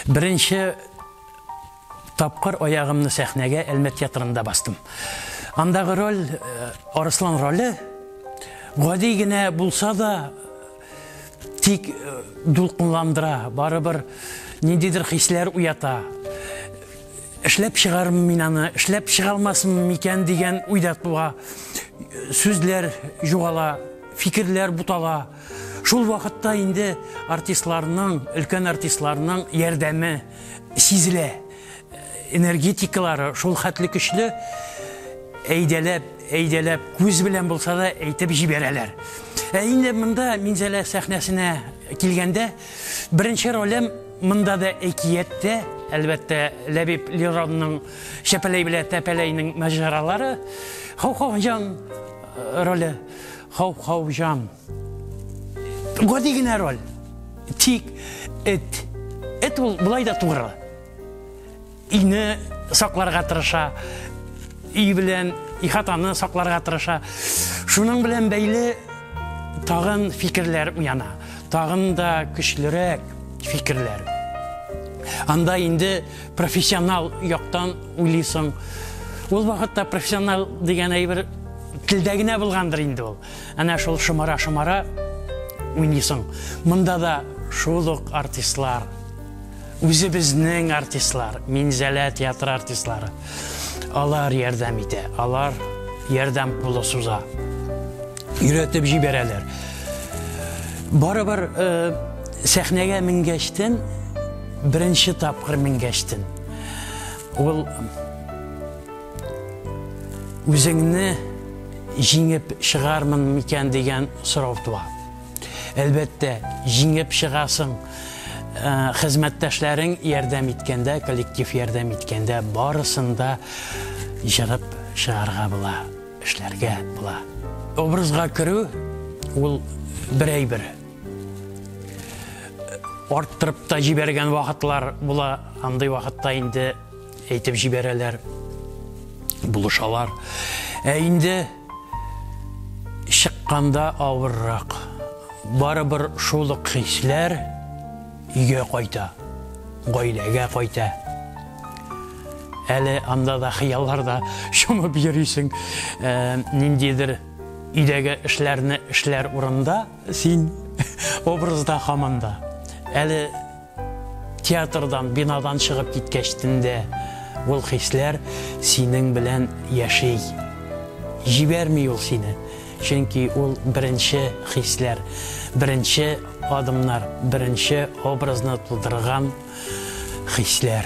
Беренче тапкыр аягымны сәхнәгә Әлмәт театрында бастым. Андагы роль, э, Арыслан роле, гади генә булса да, тик э, дулкынландыра, барыбер ниндидер хисләр уята. Эшләп чыгармы мин аны, эшләп чыга алмасмы микән дигән уйда туа. Сүзләр югала, фикерләр бутала. Шул вакытта инде артистларның, өлкән артистларның ярдәме сизелә. Энергетикалары шул хәтле көчле, әйдәләп, әйдәләп, күз белән булса да әйтеп җибәрәләр. Ә инде монда Минзәлә сәхнәсенә килгәндә, беренче ролем монда да әкият тә, әлбәттә, Ләбиб Леронның Чәпәләй белә Тәпәләйнең маҗаралары, Хохохҗан роле. Хау хау җан. Гади генә роль. Тик эт. Эт ул былай да тугры. Ине сакларга тырыша. И белән ихатаны сакларга тырыша. Шуның белән бәйле тагын фикерләр уяна. Тагын да көчлерәк фикерләр. Анда инде Профессионал яктан уйлыйсың. Ул вакытта профессионал дигән әйбер телдә генә булгандыр инде ул. Әнә шул шымара-шымара уйныйсың. Монда да шул ук артистлар. Үзебезнең артистлар, Минзәлә театры артистлары. Алар ярдәм итә, алар ярдәм кулы суза. Өйрәтеп җибәрәләр. Барыбер э, сәхнәгә менгәчтен, беренче тапкыр менгәчтен. Ул үзеңне җиңеп чыгармын микән дигән сорау туа. Әлбәттә, җиңеп чыгасың. Э, хезмәттәшләрең ярдәм иткәндә, коллектив ярдәм иткәндә барысын да җырып чыгарга була. Эшләргә була. Образга керү ул бер әйбер. Арттырып та җибәргән вакытлар була, андый вакытта инде әйтеп җибәрәләр, булышалар. Ә инде чыкканда авыррак. Барыбер шул ук хисләр өйгә кайта, гаиләгә кайта. Әле анда да хыялларда чумып йөрисең, ниндидер өйдәге эшләрне эшләр урында син образда һаман да. Әле театрдан, бинадан чыгып киткәч төндә ул хисләр синең белән яши. Җибәрми ул сине, чөнки ул беренче хисләр, беренче адымнар, беренче образны тудырган хисләр.